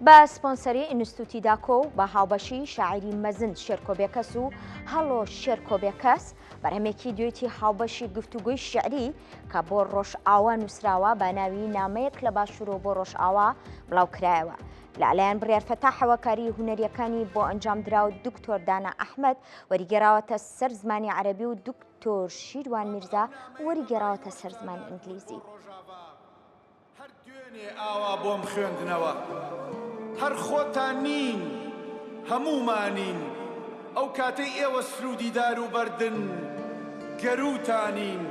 بە سپۆنسەری ئینستتوتی داکۆ و بە هاوبەشی شاعیری مەزن شێرکۆ بێکەس و هەڵۆ شێرکۆ بێکەس بەرهەمێکی دوێتی هاوبەشی گفتوگۆی شعری کە بۆ ڕۆژئاوا نووسراوە بە ناوی نامەیەک لە باشوورەوە بۆ ڕۆژئاوا بڵاوکرایەوە لەلایەن بڕیار فەتاحەوە کاری هونەریەکانی بۆ ئەنجام درا و دکتۆر دانا ئەحمەد وەریگەراوەتە سەر زمانی عەرەبی و دکتۆر شیروان میرزا وەریگەراوەتە سەر زمانی ئینگلیزی. هەر دوێنێ ئاوا بۆم خوێندنەوە هەر خۆتان نین هەموومانین ئەو کاتەی ئێوە سروودی دار و بەردن گەرووتانین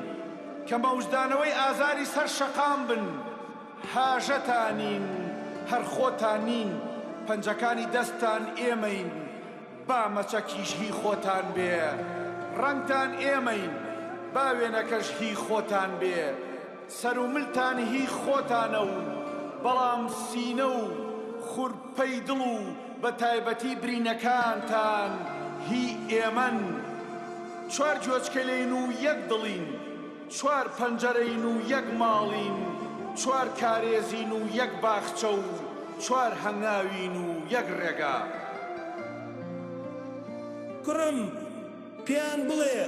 کە مەوجدانەوەی ئازاری سەر شەقام بن هاژەتانین هەر خۆتان نین پەنجەکانی دەستتان ئێمەین با مەچەکیش هی خۆتان بێ ڕەنگتان ئێمەین با وێنەکەش هی خۆتان بێ سەرو ملتان هی خۆتانە و بەڵام سینە و خورپەی دڵ و بە تایبەتی برینەکانتان هی ئێمەن. چوار گوێچکەلین و یەک دڵین، چوار پەنجەرەین و یەک ماڵین، چوار کارێزین و یەک باخچە و چوار هەنگاوین و یەک ڕێگا. کوڕم! پێیان بڵێ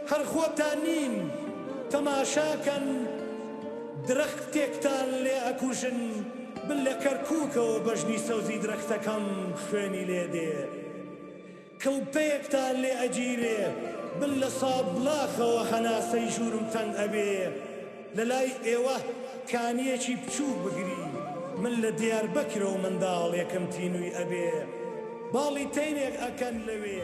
هەر خۆتان نین تەماشاکەن درەختێکتان لێ ئەکوژن من لە کەرکوکەوە بەژنی سەوزی درەختەکەم خوێنی لێ دێ کڵپەیەکتان لێ ئەگیرێ من لە سابڵاخەوە هەناسەی ژورم تەنگ ئەبێ لەلای ئێوە کانیەکی بچوک بگری من لە دیاربەکرەوە منداڵێکم تینوی ئەبێ باڵی تەیرێک ئەکەن لەوێ.